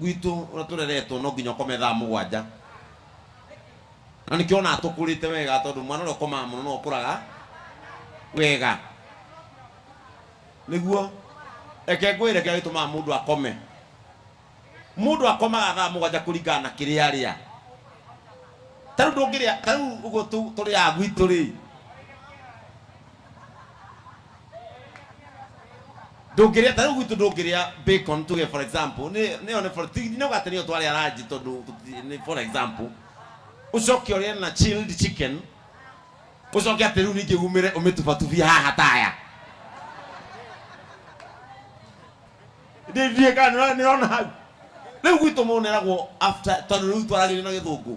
gwitũ ũrĩa tũreretwo no nginya ũkome thaa mũgwanja na nĩkĩo ona tũkũrĩte wega tondũ mwana ũrĩa ũkomaga mũno no ũkũraga wega nĩguo eke ngwĩre kĩrĩa gĩtũmaga mũndũ akome mũndũ akomaga thaa mũgwanja kũringana na kĩrĩa arĩa tarĩu ndũngĩrĩa tarĩu ũguo tũ- tũrĩaga gwitũ rĩ ndũngĩrĩa ta rĩu gwitũ ndũngĩrĩa bacon tuge for example nĩ nĩ one for ti no gate nĩyo twarĩa ranji tondũ tũti- nĩ for example ũcoke ũrĩe na chilled chicken ũcoke atĩ rĩu ningĩ umĩre ũmĩtubatubie haha taya ndĩndiĩ kana nĩũrona hau rĩu gwitũ mũndũ nĩeragwo after tondũ rĩu twaragĩria na gĩthũngũ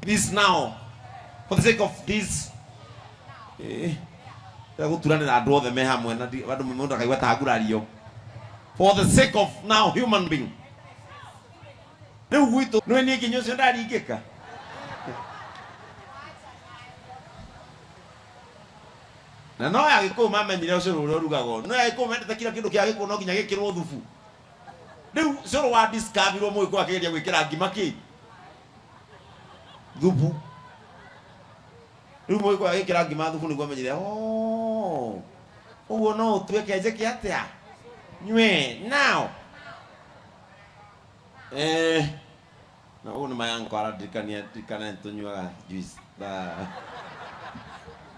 Please now, for the sake of this, eh, ya guturanira andu othe me hamwe na ndi- andu mundu akaigua ta ngurario. For the sake of now human being. Riu gwitu nwe ni kinyo cio ndaringika. Na no ya gikuyu mamenyire ucio uria urugagwo. No ya gikuyu mendete kila kindu kia gikuyu no nginya gikirwo thubu. Rĩu cũrũ wa discoverwo mũgĩkũyũ akĩgeria gwĩkĩra ngima kĩ thubu rĩu mũgĩkũyũ agĩkĩra ngima thubu nĩguo amenyire "Oh, ũguo no ũtuĩke njĩke atĩa nywe nao eh Na ũguo nĩ ma yanko arandirikania ndirikane nĩ tũnyuaga juice thaa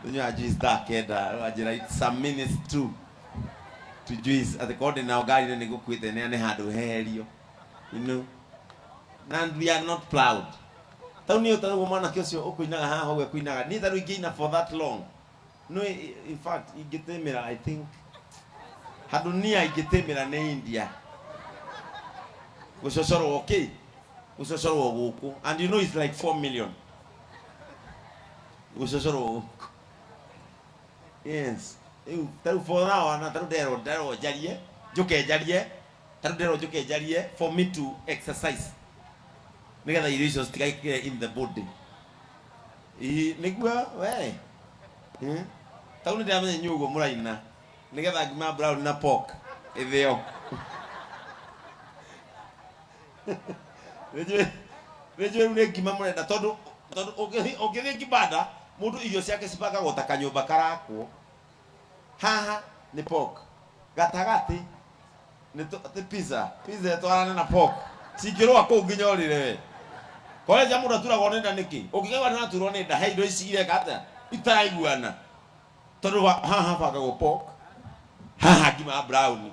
tũnyuaga juice thaa kenda rĩu anjĩra it's some minutes to to juice atĩ korwo ndĩ nao ngari-inĩ nĩ ngũkuĩte nĩa nĩ handũ heherio you know na and we are not proud tau niĩ ũtarĩ ũguo mwanake ũcio ũkũinaga haha ũguo ekũinaga niĩ tarĩu ingĩina for that long no i- in fact ingĩtĩmĩra i think handũ nia ingĩtĩmĩra nĩ india gũcocorwo kĩ gũcocorwo gũkũ and you know it's like 4 million gũcocorwo gũkũ yes rĩu tarĩu for now ana tarĩu nderwo nderwo njarie njũke njarie tarĩu nderwo njũke njarie for me to exercise nĩgetha irio icio citigakĩre in the body Ii, nĩguo we Eh? tau nĩndĩramenya inyuĩ ũguo mũraina nĩgetha ngima brown na pork ĩthĩo nĩnjũĩ nĩnjũĩ rĩu nĩ ngima mũrenda tondũ tondũ ũngĩthi- ũngĩthiĩ kibanda mũndũ irio ciake cibangagwo ta kanyũmba karakwo haha nĩ pork gatagatĩ nĩ tũ- nĩ pizza pizza ĩtwarane na pork cingĩrũa kũu nginya ũrĩre we koreja mũndũ aturagwo nĩ nda nĩkĩ ũngĩkaigua nĩ aturwo nĩ nda he indo ici ireka atĩa itaraiguana tondũ wa- haha bangagwo pork haha ngima brown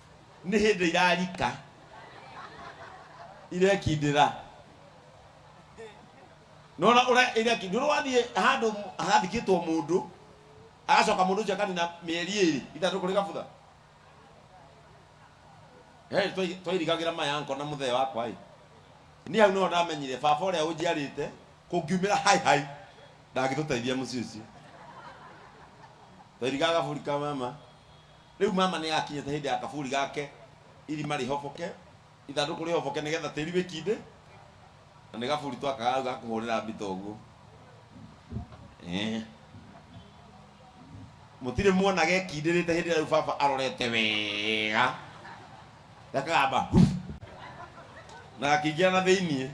nĩ hĩndĩ irarika irekindĩra nona ũrĩa irekindĩra wathiĩ handũ hathikĩtwo mũndũ agacoka mũndũ ũcio akanina mĩeri ĩrĩ ithatũ kũrĩ gabutha twairigagĩra maya nko na mũthee wakwa ĩ niĩ hau nĩho ndamenyire baba ũrĩa ũnjiarĩte kũngiumĩra hai hai ndangĩtũteithia mũciĩ ũcio twairigaga gaburi ka mama Rĩu mama nĩ akinyĩte hĩndĩ ya kaburi gake, irima rĩhoboke, ithandũkũ rĩhoboke nĩ getha tĩri wĩkindĩ, na nĩ gaburi twakaga hau ga kũhũrĩra mbita ũguo. Eh. Mũtirĩ muona gekindĩrĩte hĩndĩ ĩrĩa rĩu baba arorete wega gakagamba hu na gakĩingĩra na thĩiniĩ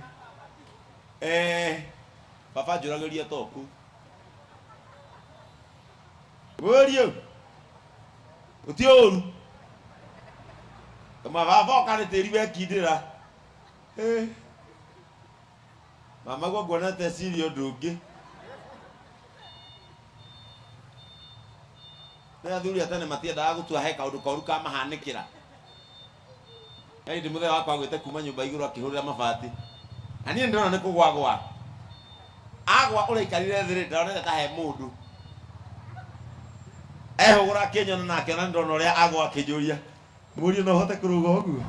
eh, baba njũragĩria toku wĩrie ũti ũru mababa ũkarĩ tĩri wekindĩra Eh. mama guo nguona teciri ũndũ ũngĩ nĩ athuri atene matiendaga gũtua he kaũndũ koru kamahanĩkĩra Kaindi mũthee wakwa agwĩte kuma nyũmba igũrũ akĩhũrĩra mabati na niĩ ndĩrona nĩ kũgwagwa agwa ũraikarire thĩ rĩ ndaronete ta he mũndũ ehũgũra akĩnyona na akĩona nĩ ndĩrona ũrĩa agwa akĩnjũria mũriũ no ũhote kũrũga ũguo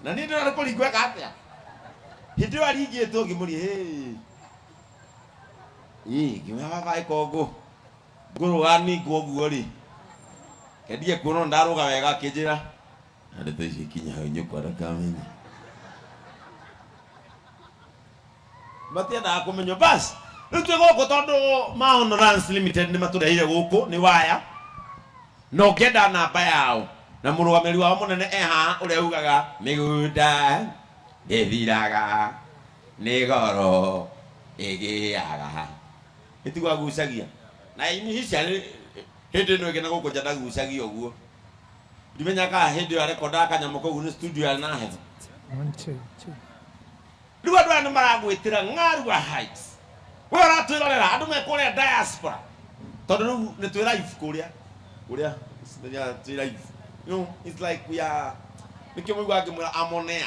na niĩ ndĩrona nĩ kũringweka atĩa hĩndĩ ĩyo aringĩtwo ngĩmũria hey ii nginya baba ikogu ngurwa ningwo guo ri kendie kuona ndaruga wega akinjira nande tuici kinya hau nyuko ndakamenye matiendaga kumenyo basi riu twi guku tondu maono Runs limited ni matureire guku ni waya na ũngĩenda namba yao na mũrũgamĩrĩri wao mũnene eha ũrĩa ugaga mĩgũnda ndĩthiraga Nĩ goro ĩgĩaga. Nĩ tuge agucagia. Na initially, hĩndĩ ĩno ĩngĩ na gũkũ nja ndagucagia ũguo. Ndimenyaga kana hĩndĩ ĩyo arekondaga kanyamũ kau nĩ studio yarĩ na heho. Rĩu andũ aya nĩ maragwĩtĩra Ng'arua Heights. Wee ũratwĩrorera, andũ me kũrĩa diaspora. Tondũ rĩu nĩ twĩ live kũrĩa. Kũrĩa, twĩ live. You know, it's like we are, nĩkĩo mũiguaga ngĩmwĩra I'm on air.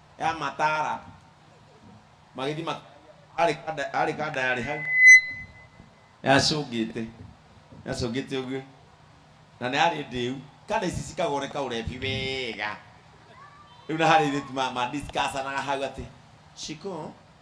ya matara magĩthiĩ mak- arĩ kanda- arĩ kanda yarĩ hau yacũngĩte yacũngĩte ũguo na nĩ arĩ ndĩu kana ici cikagoreka ũrebi wega rĩu na harĩ irĩtu ma- madiscussanaga hau atĩ ciko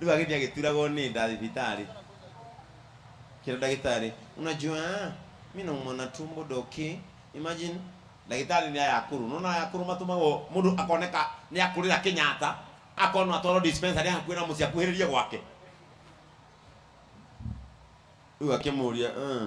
Rĩu agĩthiĩ agĩturagwo nĩ nda thibitarĩ, kĩra ndagĩtarĩ, unajua mi naumwa na tumbo doki, imagine ndagĩtarĩ nĩ ayakũrũ, nona ayakũrũ matũmagwo mũndũ akoneka nĩ akũrĩra Kenyatta, akonwo atwarwo dispensary hakuhĩ na mũciĩ akuhĩrĩrie gwake. Rĩu akĩmũria "Eh,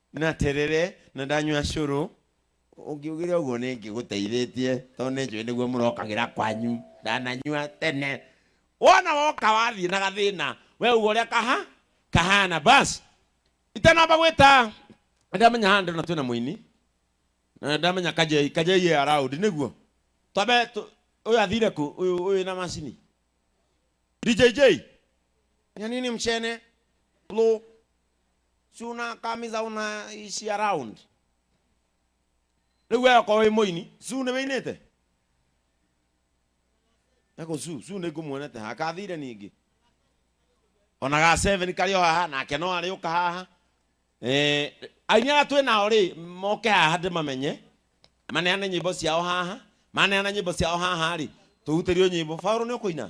Na atĩrĩrĩ, nĩndanyua cũrũ. Ũngiugire ũguo nĩngĩgũteithĩtie, tondũ nĩnjũĩ nĩguo mũrokagĩra kwanyu. Ndananyua tene. Wona woka wathiĩ na gathĩna, wee uga ũrĩa kaha, kahana. Bas. Itanamba gwĩta, nĩndamenya haha ndĩrona twĩna mũini, na nĩndamenya Kajei, Kajei e around, nĩguo? Twambe tũ, ũyũ athire kũ, ũyũ, ũyũ wĩna macini? DJJ? Nyoni ni mchene. Lũ. siũnakamiza ũnaisia round rĩu we okorwo wĩ mũini su nĩ wĩinĩte eko su su nĩ ngũmuonete ha kathire ningĩ ona ga seven karĩ o haha nake no arĩ ũka haha Eh, aini arĩa twĩ nao rĩ moke haha ndĩmamenye maneane nyĩmbo ciao haha maneana nyĩmbo ciao haha rĩ tũhutĩrio nyĩmbo baũrũ nĩ ũkũina